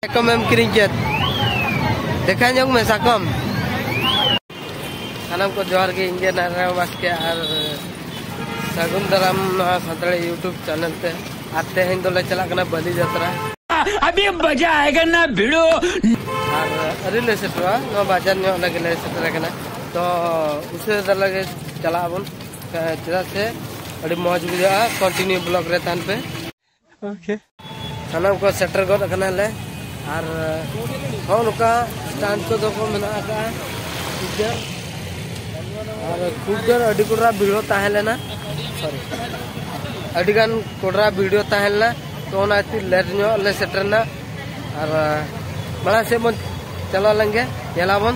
ᱥᱟᱠᱚᱢ ᱮᱢ ᱠᱤᱨᱤᱧ ᱠᱮᱫ ᱫᱮᱠᱷᱟ ᱧᱚᱜ ᱢᱮ ᱥᱟᱠᱚᱢ ᱥᱟᱱᱟᱢ ᱠᱚ ᱡᱚᱦᱟᱨ ᱜᱮ ᱤᱧ ᱜᱮ ᱱᱟᱨᱟᱭᱚᱱ ᱵᱟᱥᱠᱮ ᱟᱨ ᱥᱟᱹᱜᱩᱱ ᱫᱟᱨᱟᱢ ᱱᱚᱣᱟ ᱥᱟᱱᱛᱟᱲᱤ ᱤᱭᱩᱴᱩᱵᱽ ᱪᱮᱱᱮᱞ ᱛᱮ ᱟᱨ ᱛᱮᱦᱮᱧ ᱫᱚᱞᱮ ᱪᱟᱞᱟᱜ ᱠᱟᱱᱟ ᱵᱟᱹᱞᱤ ᱡᱟᱛᱨᱟ ᱟᱹᱰᱤ ᱢᱚᱡᱟ ᱟᱭᱜᱟ ᱱᱟ ᱵᱷᱤᱲᱳ ᱟᱨ ᱟᱹᱰᱤ ᱞᱮ ᱥᱮᱴᱮᱨᱚᱜᱼᱟ ᱱᱚᱣᱟ ᱵᱟᱡᱟᱨ ᱧᱚᱜ ᱞᱟᱹᱜᱤ ᱞᱮ ᱥᱮᱴᱮᱨ ᱟᱠᱟᱱᱟ ᱛᱚ ᱩᱥᱟᱹᱨᱟ ᱫᱷᱟᱨᱟ ᱜᱮ ᱪᱟᱞᱟᱜ ᱟᱵᱚᱱ ᱪᱮᱫᱟᱜ ᱥᱮ ᱟᱹᱰᱤ ᱢᱚᱡᱽ ᱵᱩᱡᱷᱟᱹᱜᱼᱟ ᱠᱚᱱᱴᱤᱱᱤᱭᱩ ᱵᱞᱚᱜ ᱨᱮ ᱛᱟᱦᱮᱱ ᱯᱮ ᱳᱠᱮ ᱥᱟᱱᱟᱢ ᱠᱚ ᱥᱮᱴᱮᱨ ᱜᱚᱫ ᱟᱠᱟᱱᱟᱞᱮ ᱟᱨ ᱦᱚᱸ ᱱᱚᱝᱠᱟ ᱥᱴᱟᱱᱴ ᱠᱚᱫᱚ ᱠᱚ ᱢᱮᱱᱟᱜ ᱟᱠᱟᱫᱼᱟ ᱠᱩᱰᱟᱹ ᱟᱨ ᱠᱩᱰᱟᱹ ᱟᱹᱰᱤ ᱠᱚᱰᱨᱟ ᱵᱷᱤᱲᱚ ᱛᱟᱦᱮᱸ ᱞᱮᱱᱟ ᱥᱚᱨᱤ ᱟᱹᱰᱤᱜᱟᱱ ᱠᱚᱰᱨᱟ ᱵᱷᱤᱲᱚ ᱛᱟᱦᱮᱸ ᱞᱮᱱᱟ ᱛᱚ ᱚᱱᱟ ᱠᱷᱟᱹᱛᱤᱨ ᱞᱮᱴ ᱧᱚᱜ ᱞᱮ ᱥᱮᱴᱮᱨᱱᱟ ᱟᱨ ᱢᱟᱲᱟᱝ ᱥᱮᱫ ᱵᱚᱱ ᱪᱟᱞᱟᱣ ᱞᱮᱱᱜᱮ ᱧᱮᱞᱟᱵᱚᱱ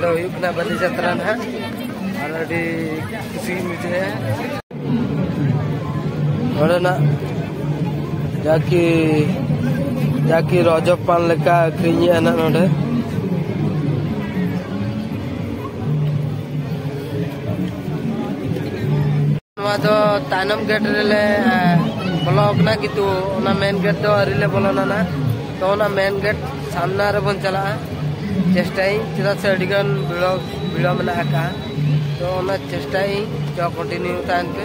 ᱱᱚᱣᱟ ᱦᱩᱭᱩᱜ ᱠᱟᱱᱟ ᱵᱟᱹᱞᱤ ᱡᱟᱛᱨᱟ ᱱᱟᱦᱟᱜ ᱟᱨ ᱟᱹᱰᱤ ᱠᱩᱥᱤ ᱜᱮᱧ ᱵᱩᱡᱷᱟᱹᱣᱮᱫᱼᱟ ᱱᱚᱰᱮᱱᱟᱜ ᱡᱟᱠᱤ ᱡᱟᱠᱤ ᱨᱚᱡᱚ ᱯᱟᱱ ᱞᱮᱠᱟ ᱟᱹᱠᱷᱨᱤᱧᱮᱫᱼᱟ ᱱᱟᱜ ᱱᱚᱰᱮ ᱱᱚᱣᱟ ᱫᱚ ᱛᱟᱭᱱᱚᱢ ᱜᱮᱴ ᱨᱮᱞᱮ ᱵᱚᱞᱚ ᱟᱠᱟᱱᱟ ᱠᱤᱱᱛᱩ ᱚᱱᱟ ᱢᱮᱱ ᱜᱮᱴ ᱫᱚ ᱟᱹᱣᱨᱤ ᱞᱮ ᱵᱚᱞᱚᱱᱟ ᱱᱟᱜ ᱛᱚ ᱚᱱᱟ ᱢᱮᱱ ᱜᱮᱴ ᱥᱟᱢᱱᱟ ᱨᱮᱵᱚᱱ ᱪᱟᱞᱟᱜᱼᱟ ᱪᱮᱥᱴᱟᱭᱟᱹᱧ ᱪᱮᱫᱟᱜ ᱥᱮ ᱟᱹᱰᱤᱜᱟᱱ ᱵᱷᱤᱲᱚ ᱵᱷᱤᱲᱚ ᱢᱮᱱᱟᱜ ᱟᱠᱟᱫᱼᱟ ᱛᱚ ᱚᱱᱟ ᱪᱮᱥᱴᱟᱭᱟᱹᱧ ᱛᱚ ᱠᱚᱱᱴᱤᱱᱤᱭᱩ ᱛᱟᱦᱮᱱ ᱯᱮ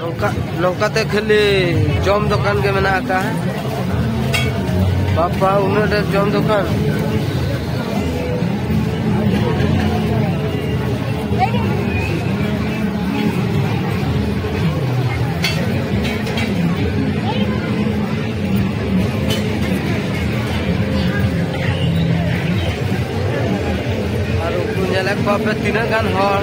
ᱱᱚᱝᱠᱟ ᱱᱚᱝᱠᱟᱛᱮ ᱠᱷᱟᱹᱞᱤ ᱡᱚᱢ ᱫᱚᱠᱟᱱ ᱜᱮ ᱢᱮᱱᱟᱜ ᱟᱠᱟᱫᱼᱟ ᱵᱟᱯᱟ ᱩᱱᱟᱹᱜ ᱰᱷᱮᱨ ᱡᱚᱢ ᱫᱚᱠᱟᱱ ᱟᱨ ᱩᱱᱠᱩ ᱧᱮᱞᱮᱫ ᱠᱚᱣᱟ ᱯᱮ ᱛᱤᱱᱟᱹᱜ ᱜᱟᱱ ᱦᱚᱲ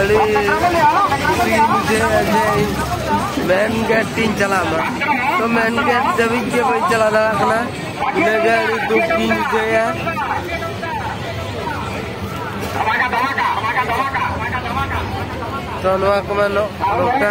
ᱟᱹᱰᱤ ᱠᱩᱥᱤ ᱜᱮᱧ ᱵᱩᱡᱷᱟᱹᱣᱟ ᱡᱮ ᱢᱮᱱ ᱜᱮᱴ ᱛᱤᱧ ᱪᱟᱞᱟᱜ ᱢᱟ ᱛᱚ ᱢᱮᱱ ᱜᱮᱴ ᱫᱷᱟᱹᱵᱤᱡ ᱜᱮ ᱵᱟᱹᱧ ᱪᱟᱞᱟᱣ ᱫᱟᱲᱮᱭᱟᱜ ᱠᱟᱱᱟ ᱤᱱᱟᱹᱜᱮ ᱟᱹᱰᱤ ᱫᱩᱠ ᱜᱤᱧ ᱵᱩᱡᱷᱟᱹᱣᱮᱫᱼᱟ ᱛᱚ ᱱᱚᱣᱟ ᱠᱚᱢᱟ ᱱᱚᱝᱠᱟ